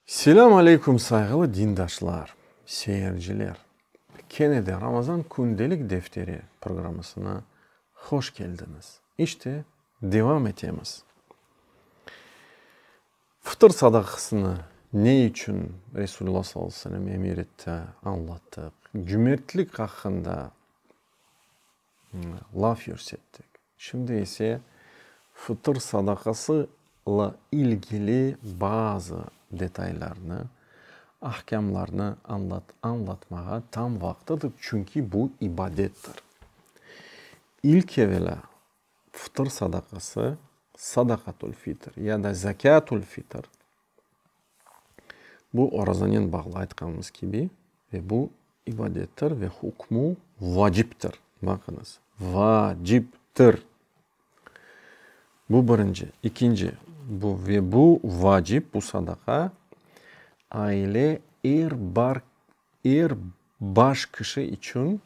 Selâm aleyküm sayğılı dindaşlar, seyirciler! Kene de Ramazan kündelik defteri programısına hoş keldiñiz. İşte, devam etemiz. Fıtır sadaqasını ne içün Resulullah sallallahu aleyhi ve sellem emir etti, añlattıq. Cümertlik aqqında. laf yürsettik. Şimdi ise fıtır sadaqası la ilgili bazı detaylarnı, ahkâmlarnı añlatmağa tam vaqtıdır, çünki bu ibadettir. İlk evelâ fıtır sadaqası, sadaqatül-fitr ya da zekâtül-fitr, Bu orazanen bağlı aytqanımız kibi ve bu ibadettir ve hukmu vaciptir. Baqıñız, vaciptir. Bu birinci. İkinci, bu ve bu vacip, bu sadaqa aile er bar Er baş kişi içün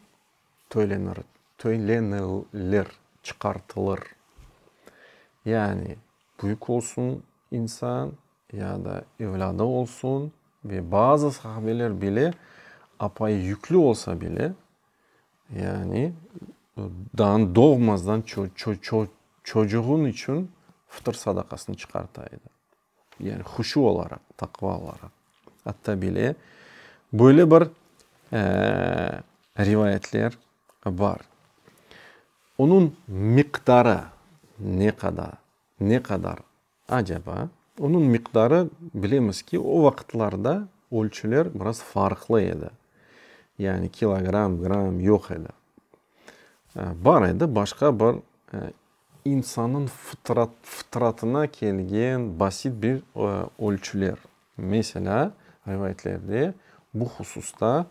töylenir, töylenilir, çıqartılır. Yani büyük olsun insan ya da evlâdı olsun ve bazı sahabeler bile apayı yüklü olsa bile, yani dan doğmazdan çocuğun içün fıtır sadaqasını çıqarta edi. Yani huşu olaraq, taqva olaraq. Atta bile böyle bir rivayetler bar. Onıñ miqdarı ne qadar, ne qadar acaba? Onıñ miqdarı, bilemiz ki, o vaqıtlarda ölçüler biraz farqlı edi. Yani kilogramm, gramm yoq edi. Bar edi başqa bir. İnsannıñ fıtratına kelgen basit bir ölçüler. Meselâ, rivayetlerde bu hususta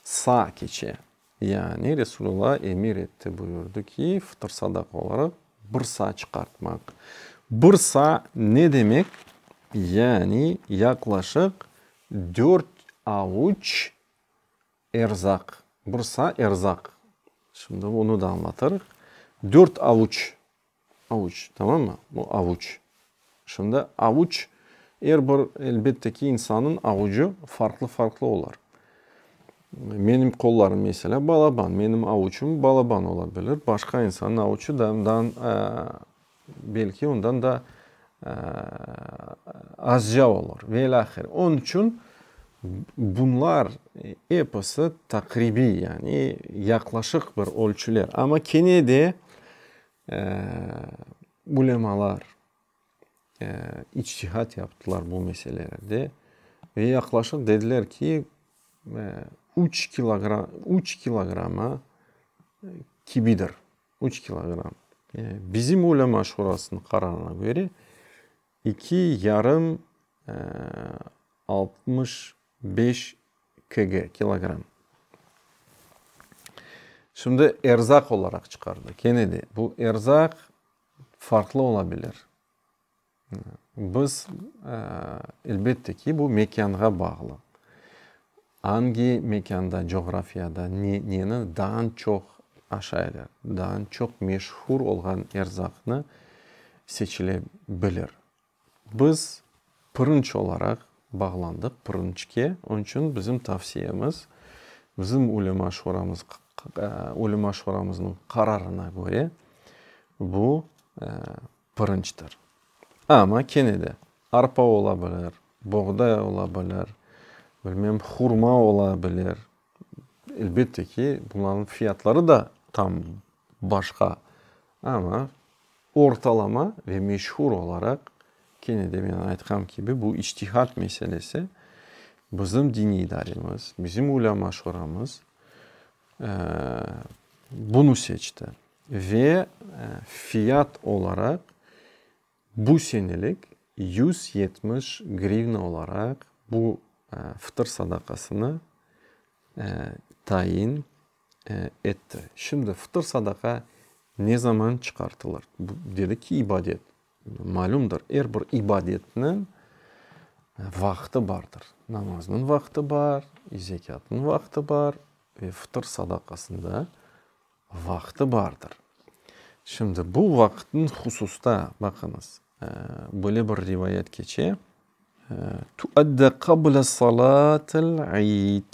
sa keçe, yani Resulullah emir etti, buyurdı ki, fıtır sadaqa olaraq bir sa çıqartmaq. Bir sa ne demek? Yani yaqlaşıq dört avuç Erzaq, bursa, erzaq. Şimdi onı da añlatırıq. Dört avuç, avuç, tamamı? Bu avuç. Şimdi avuç, er bir, elbette ki, insanın avucı farqlı-farqlı olar. Menim qollarım, meselâ, balaban, menim avuçım balaban ola bilir, başqa insanın avuçı da, Belki ondan da azca olur ve ilâ ahir. Onıñ içün bunlar episi taqribiy, yani yaqlaşıq bir ölçüler. Amma kene de ulemalar içtihat yaptılar bu meselelerde ve yaqlaşıq dediler ki, üç kilogramma kibidir. Üç kilogramm. Bizim ulema şurasınıñ qararına köre, iki yarım, altmış beş KG, kilogramm. Şimdi erzaq olaraq çıqardı. Kene de bu erzaq farqlı ola bilir. Biz, elbette ki, bu mekânğa bağlı. Angi mekânda, coğrafiyada neni daa çoq aşaylar, daa çoq meşhur olğan erzaqnı seçile bilir. Biz pırınç olaraq bağlandıq pırınçke. Onıñ içün bizim tavsiyemiz, bizim ulema şuramız, ulema şuramıznıñ qararına köre, bu, Pırınçtır. Amma kene de, arpa ola bilir, boğday ola bilir, bilmem, hurma ola bilir. Elbette ki, bunların fiyatları da tam başqa. Amma ortalama ve meşhur olaraq, kene de men aytqam kibi, bu içtihat meselesi. Bizim diniy idaremiz, bizim ulâma-şuramız Bunı seçti ve fiyat olaraq bu senelik yüz yetmiş grivna olaraq bu fıtır sadaqasını tayin etti. Şimdi fıtır sadaqa ne zaman çıqartılır? Bu, dedi ki, ibadet. Malümdir, er bir ibadetniñ vaqtı bardır. Namaznıñ vaqtı bar, zekâtnıñ vaqtı bar ve fıtır sadaqasınıñ da vaqtı bardır. Şimdi bu vaqıtnıñ hususta, baqıñız, böyle bir rivayet keçe, Tuadde qabla salatil id.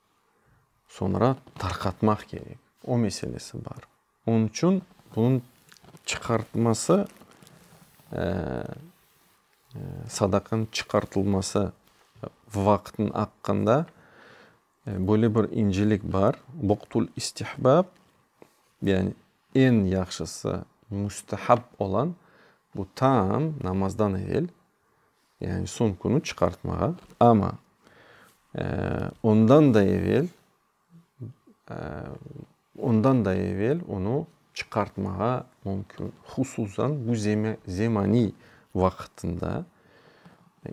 Soñra tarqatmaq kerek. O meselesi bar. Onıñ içün bunıñ çıqartması, sadaqanıñ çıqartılması vaqtınıñ aqqında böyle bir incelik bar, vaqtul istihbâb, yani eñ yahşısı, müstehab olan, bu tam namazdan evel Yani soñ künü çıqartmağa, amma ondan da evel, ondan da evel onı çıqartmağa mümkün. Hususan bu zemaniy vaqıtında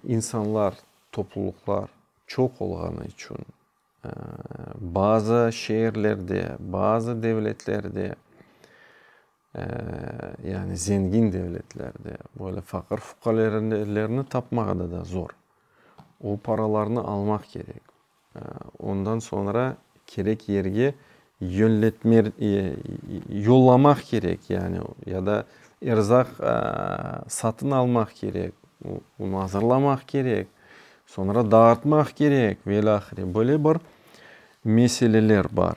insanlar, toplulıqlar çoq olğanı içün, bazı şeerlerde, bazı devletlerde Yani zengin devletlerde böyle faqır fuqalerelerni tapmağa da da zor. O paralarnı almaq kerek. Ondan soñra kerek yerge yönletme yollamaq kerek yani ya da erzaq satın almaq kerek, onı azırlamaq kerek, soñra dağıtmaq kerek velâhre. Böyle bir meseleler bar.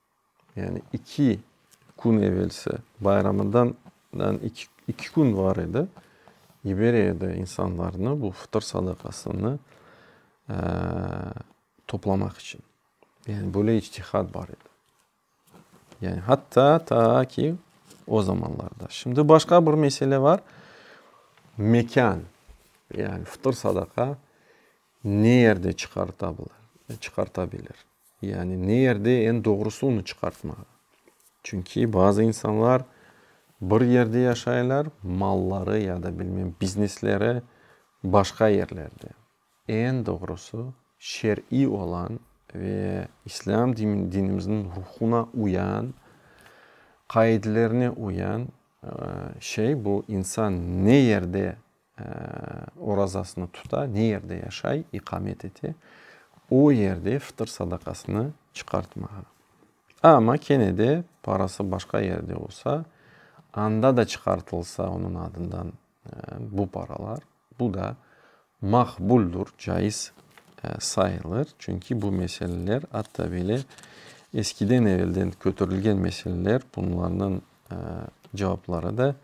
Yani iki kün evelsi, bayramından iki kün var edi, yiberedi insanlarnı bu fıtır sadaqasını toplamaq içün. Yani böyle içtihat bar edi. Yani hatta ta ki o zamanlarda. Şimdi başqa bir mesele var, mekân. Yani fıtır sadaqa ne yerde çıqartabilir? Yani ne yerde eñ doğrusı onı çıqartmağa? Çünki bazı insanlar bir yerde yaşaylar, malları ya da bilmem biznesleri başqa yerlerde. Eñ doğrusı şer'iy olan ve İslâm dinimizniñ ruhuna uyan, qaidelerine uyan şey bu, insan ne yerde orazasını tuta, ne yerde yaşay, iqamet ete, o yerde fıtır sadaqasını çıqartmağa. Amma kene de parası başqa yerde olsa, anda da çıqartılsa onıñ adından bu paralar, bu da maqbuldur, caiz sayılır. Çünki bu meseleler atta böyle eskiden-evelden köterilgen meseleler, bunlarnıñ cevapları da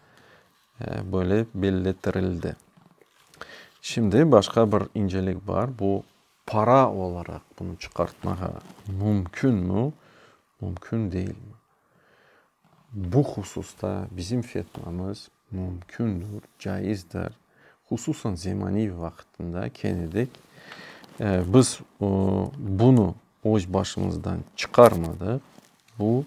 Böyle belletirildi. Şimdi başqa bir incelik bar, bu para olaraq bunı çıqartmağa mümkünmi, mümkün deyilmi? Bu hususta bizim fetvamız mümkündür, caizdir. Hususan Zemaniyev vaqtında kene de biz bunı öz başımızdan çıqarmadıq, bu.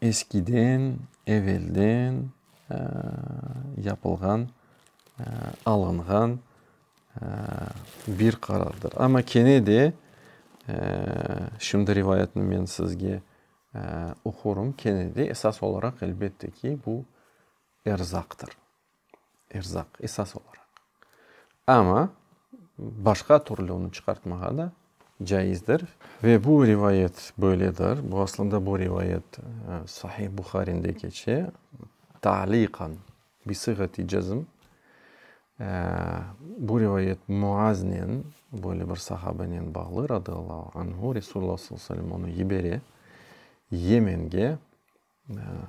Eskiden, evelden yapılğan, alınğan bir qarardır. Amma kene de şimdi rivayetni men sizge oqurım, kene de esas olaraq, elbette ki, bu erzaqtır. erzaq, esas olaraq. Amma başqa türlü onı çıqartmağa da caizdir. Ve bu rivayet böyledir, bu aslında bu rivayet Sahih Buharinde keçe, taliqan, bi sıgati cezm. Bu rivayet Muaznen, böyle bir sahabenen bağlı, radiallahu anhu, Resulullah sallallahu aleyhi ve sellem onı yibere Yemenge,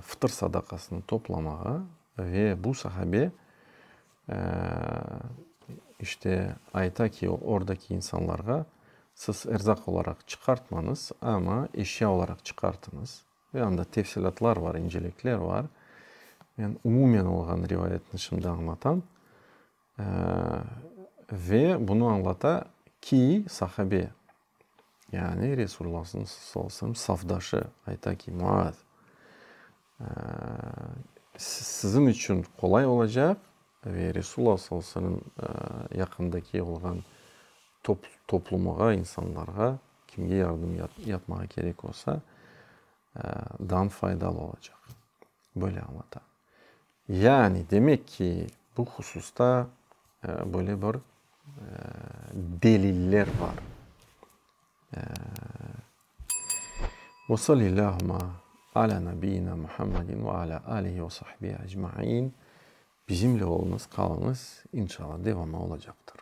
Fıtır sadaqasını toplamağa ve bu sahabe işte ayta ki, ordaki insanlarğa, siz erzaq olaraq çıqartmañız, amma eşya olaraq çıqartıñız. Ve anda tefsilâtlar bar, incelikler bar. Men umumen olğan rivayetni şimdi añlatam. Ve bunı añlata ki, sahabe. Yani Resulullâhnıñ sallallahu aleyhi ve sellem safdaşı ayta ki, Muaz, siziñ içün qolay olacaq ve Resulullâh sallallahu aleyhi ve sellemniñ yaqındaki olğan toplumıga, insanlarğa, kimge yardım yapmağa kerek olsa, dan faydalı olacaq. Böyle añlata. Yani, demek ki, bu hususta böyle bir deliller bar. Ve sallillâhuma alâ nabiyyina Muhammedin ve alâ âlihi ve sahbihi ecmaîn. Bizimle olunız, qalınız, inşallah devamı olacaqtır.